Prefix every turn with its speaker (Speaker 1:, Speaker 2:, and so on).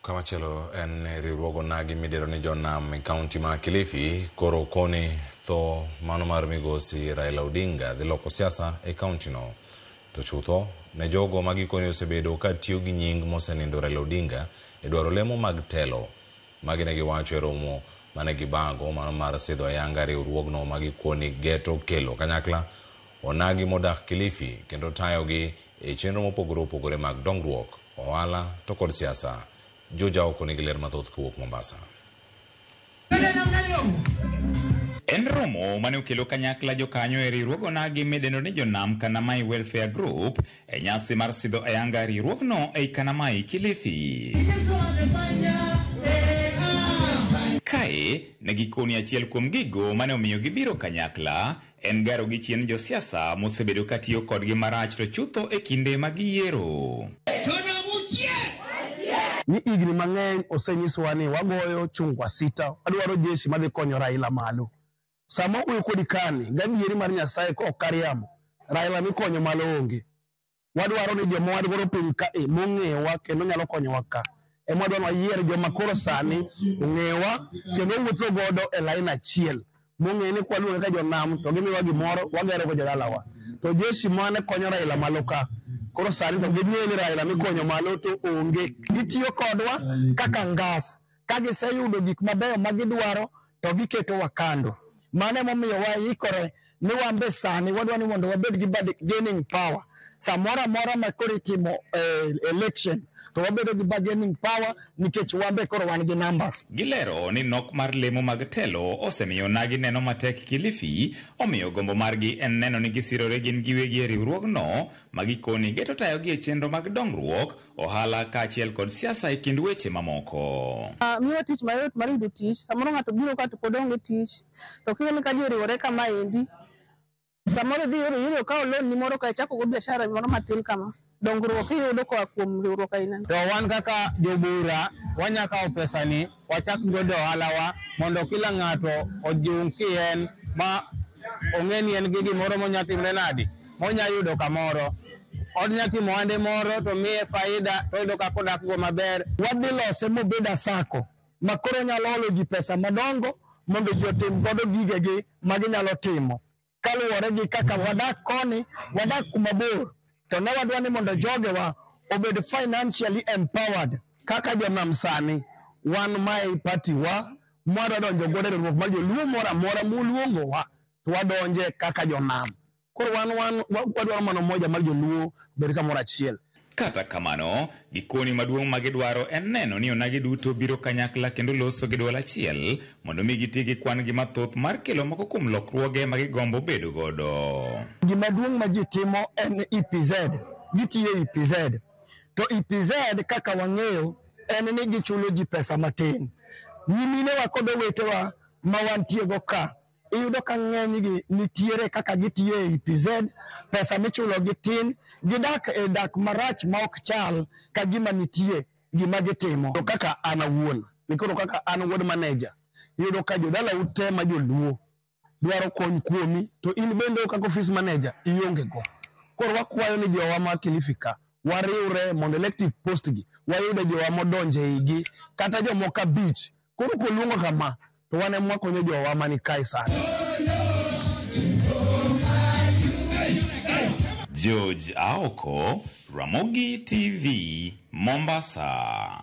Speaker 1: Kamachielo en ni riwruog onagi midero ni jonam e kaunti ma Kilifi koro okoni tho mano mar migosi Raila Odinga dhi loko siasa e kaunti no. To chutho, ne jogo ma gikoni osebedo ka tiyo gi nying mosenindo Raila Odinga e dwaro lemo mag telo. Magi ne giwacho e romo mane gibago mano mar sidho ayanga riwruogno ma gikoni geto kelo kanyakla onagi modak Kilifi kendo tayogi e chenro mopogore opogore mag dongruok. ohala to kod siasa. Juja Aoko nigi ler mathoth kowuok Mombasa.
Speaker 2: En romo mane okelo kanyakla jokanyo e riwruog onagi midendo ni Jonam Kanamai Welfare Group e nyasi mar sidho ayanga riwruogno ei Kanamai Kilifi. Kae ne gikoni achiel kuom gigo mane omiyo gibiro kanyakla En garo gi chien josiasa mosebedo ka tiyo kodgi marach to chutho e kinde mag yiero.
Speaker 3: Ni igni mang'eny osenyisowa ni wagoyo chung wasita, wadwaro jeshi madhi konyo Raila malo. Sama wawuoyo kodi kani, gadieri mar Nyasaye ka ok kariambo, Raila mikonyo malo onge. wadwaro ni joma wan godo piny ka e mong'eyowa kendo nyalo konyowa ka ema wadwa ni wayier joma koro sani ong'eyowa kendo wuotho godo e lain achiel mong'e ni kwaluonge ka jonam to gimiwa gimoro wagero go jodalawa to jeshi mane konyo Raila malo ka koro sani to ging'eyo ni Raila mikonyo malo to onge gitiyo kodwa kaka ngas Ka giseyudo gik mabeyo ma gidwaro, to giketowa kando. Mano emomiyo waikore ni wan be sani wadwa ni mondo wabed gi bargaining power. Samoro amora ma koro itimo eh, election, to wabedo gi bargaining power nikech wan be koro wan gi numbers. Gilero ni nok
Speaker 2: mar lemo mag telo osemiyo onagi neno matek Kilifi, omiyo gombo margi en neno ni gisirore gin giwegi e riwruogno ma gikoni geto tayogi e chenro mag dongruok ohala kaachiel kod siasa e kind weche mamoko. Uh, miwa tich mayot
Speaker 4: mar yudo tich. Samoro ng'ato biro ka to pod onge tich, to kineno ni ka ji oriwore kama endi, samoro idhi yoro yoro kawo loan ni moro ka ichako go biashara moro matin kama dongruok iyudo koa kuom riwruok aina. To wan kaka
Speaker 3: jobura wanya kawo pesa ni wachak godo ohalawa mondo kila ng'ato ojung' kien ma ong'e ni en gi gimoro monya timre nadi monya yudo kamoro. Od nya timo ohande moro to miye faida to oyudo kaka odak go maber. Wadhi lose mobed a sacco ma koro onyalo holo ji pesa madongo mondo ji otim godo gigegi ma ginyalo timo kaluwore gi kaka wadak koni, wadak kuma bor to ne wadwa ni mondo jogewa obed financially empowered. Kaka jonam sani wan mae e party wa mwadwa donjo godo e riwruok mar joluo moro amora moluongowa to wadonje kaka jonam. Koro wan wan wadwaro mana umoja mar joluo obed kamoro achiel. Kata kamano,
Speaker 2: gikoni maduong' ma gidwaro en neno ni onagi duto biro kanyakla kendo loso gi dwol achiel mondo mi giti gi kwan gi mathoth mar kelo moko kuom lokruoge ma gigombo bedo godo. Gima duong' ma
Speaker 3: ji timo en EPZ, gitiyo e EPZ. To EPZ kaka wang'eyo en ni gichulo ji pesa matin. Nyiminewa kod owetewa ma wantiego ka iyudo ka ng'enygi nitiere kaka gitiyo e EPZ, pesa michulogi tin, gidak e dak marach ma ok chal ka gima nitie gima gitimo. To kaka an awuon, nikoro kaka an ward manager, iyudo ka jodalau te ma joluo dwaro kony kuomi, to in bende kaka office manager ionge go. Koro wakwayo ni jowa ma Kilifi ka, wariwre mondo elective post gi wayude jowa modonjo e igi, kata jomoko abich Koro koluongo kama, to wan ema wakonyo jowa mani kae sani.
Speaker 2: George Aoko, Ramogi TV, Mombasa.